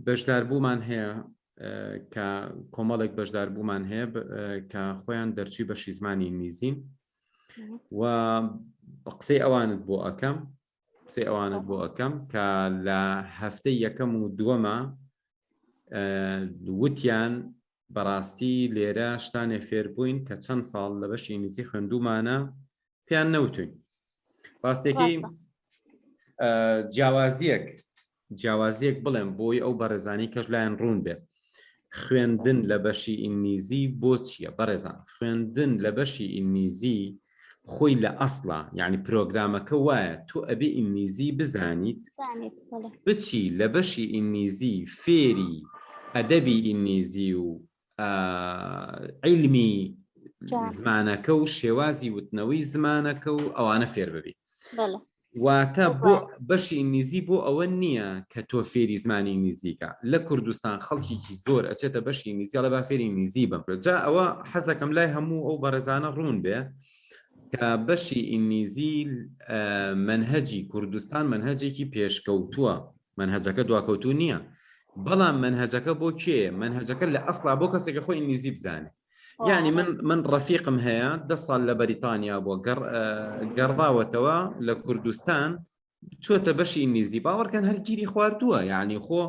بەشدار بوومان هەیە کە کۆمەڵێک بەشدار بوومان هەیە کە خۆیان دەرچی بەشی زمانی ئینگلیزین و قسەی ئەوانت بۆ ئەەکەم قسەی ئەوانت بۆ ئەەکەم کە لە هەفتەی یەکەم و دووەمە وتیان بەڕاستی لێرە شتانێ فێر بووین کە چەند ساڵ لە بەشی ئینگلیزی خوێندومانە پێیان نەوتوین ڕاستێکی جیاوازیەک جیاوازیەک بڵێم بۆی ئەو بەڕێزانی کەش لایەن ڕوون بێت خوێندن لە بەشی ئینگلیزی بۆ چییە بەڕێزان خوێندن لە بەشی ئینگلیزی خۆی لە ئەسڵا یعنی پرۆگرامەکە وایە تۆ ئەبێ ئینگلیزی بزانیت بچی لە بەشی ئینگلیزی فێری ئەدەبی ئینگلیزی و عیلمی زمانەکە و شێوازی وتنەوەی زمانەکە و ئەوانە فێر ببی واتە بۆ بەشی ئینگلیزی بۆ ئەوە نییە کە تۆ فێری زمانی ئینگلیزیکە لە کوردستان خەڵکیی زۆر ئەچێتە بەشی ئینگلیزی ئەڵێ با فێری ئینگلیزی بم جا ئەوە حەزەکەم لای هەموو ئەو بەڕێزانە ڕوون بێ کە بەشی ئینگلیزی مەنهەجی کوردستان مەنهەجێکی پێشکەوتووە مەنهەجەکە دواکەوتوو نییە بەڵام مەنهەجەکە بۆ کێ مەنهەجەکە لە ئەسڵا بۆ کەسێکە خۆی ئینگلیزی بزانێ یعنی من من ڕەفیقم هەیە دە ساڵ لە بەریتانیا بۆ گەڕداوەتەوە لە کوردستان چۆتە بەشی ئینگلیزی باوەڕکەن هەرگیری خواردووە یعنی خۆ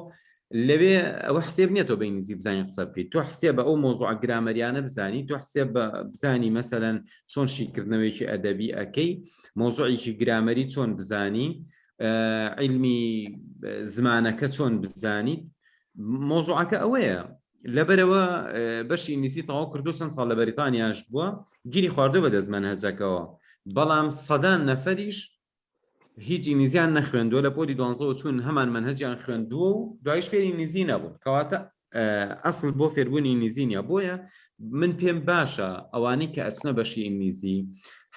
لەوێ ئەوە حسێب نیە تۆ بە ئینگلیزی بزانانی قسە بکەیت تۆ حسێ بە ئەو مۆزوع گرامەریانە بزانی تۆ حسێ بە بزانی مەسەەن چۆن شیکردنەوەیکی ئەدەبی ئەەکەی مۆزوعێکی گرامەری چۆن بزانی علمی زمانەکە چۆن بزانیت مۆزوعەکە ئەوەیە لەبەرەوە بەشی ئینگلیزی تەواو کردو چەند ساڵ لە بەریتانیاش بووە گیری خواردوە بە دەست مەنهەجەکەوە بەڵام سەدان نەفەریش هیچ ئینگلیزیان نەخوێندووە لە پۆلی دوانزەوە چوون هەمان مەنهەجیان خوێندووە و دوایش فێری ئینگلیزی نەبوون کەواتە ئەسڵ بۆ فێربوونی ئینگلیزی نیە بۆیە من پێم باشە ئەوانەی کە ئەچنە بەشی ئینگلیزی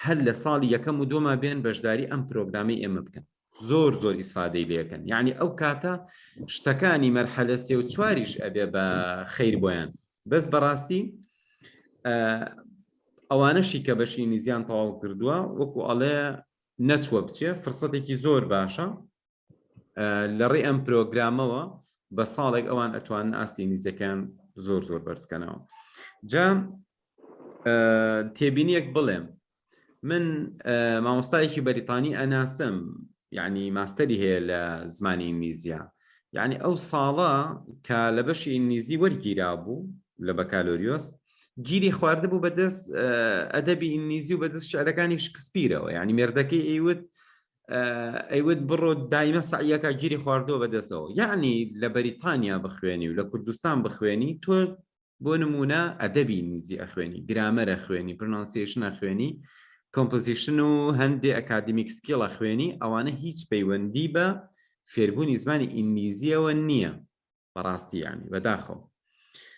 هەر لە ساڵی یەکەم و دۆما بێن بەشداری ئەم پرۆگرامی ئێمە بکەن زۆر زۆر ئیسفادەی لەکەن یعنی ئەو کاتە شتەکانی مەرحەلە سێ و چواریش ئەبێ بە خیر بۆیان بەس بەڕاستی ئەوانەشی کە بەشی نیزیان تەواو کردووە وەکو ئەڵێ نەچوە بچێ فرسەتێکی زۆر باشە لە ڕێ ئەم پرۆگرامەوە بە ساڵێک ئەوان ئەتوان ئاستی نیزەکان زۆر زۆر بەرزکەنەوە جا تێبینیەک بڵێم من مامۆستایەکی بەریتانی ئەناسم یعنی ماستەری هەیە لە زمانی ئینگلیزیە یعنی ئەو ساڵە کە لە بەشی ئینگلیزی وەرگیرا بوو لە بەکالۆریۆس گیری خواردبوو بەدەست ئەدەبی ئینگلیزی و بەدەست شعرەکانی شکسپیرەوە یعنی مێردەکەی ئەیوت ئەیوت بڕۆ دایمە سعیەکە گیری خواردەوە بەدەستەوە یعنی لە بەریتانیا بخوێنی و لە کوردستان بخوێنی تۆ بۆ نمونە ئەدەبی ئینگلیزی ئەخوێنی گرامەر ئەخوێنی پرنانسیشن ئەخوێنی کۆمپۆزیشن و هەندێ ئەکادمیک سکیڵ ئەخوێنی ئەوانە هیچ پەیوەندی بە فێربوونی زمانی ئینگلیزیەوە نییە بەڕاستیانی بەداخەوە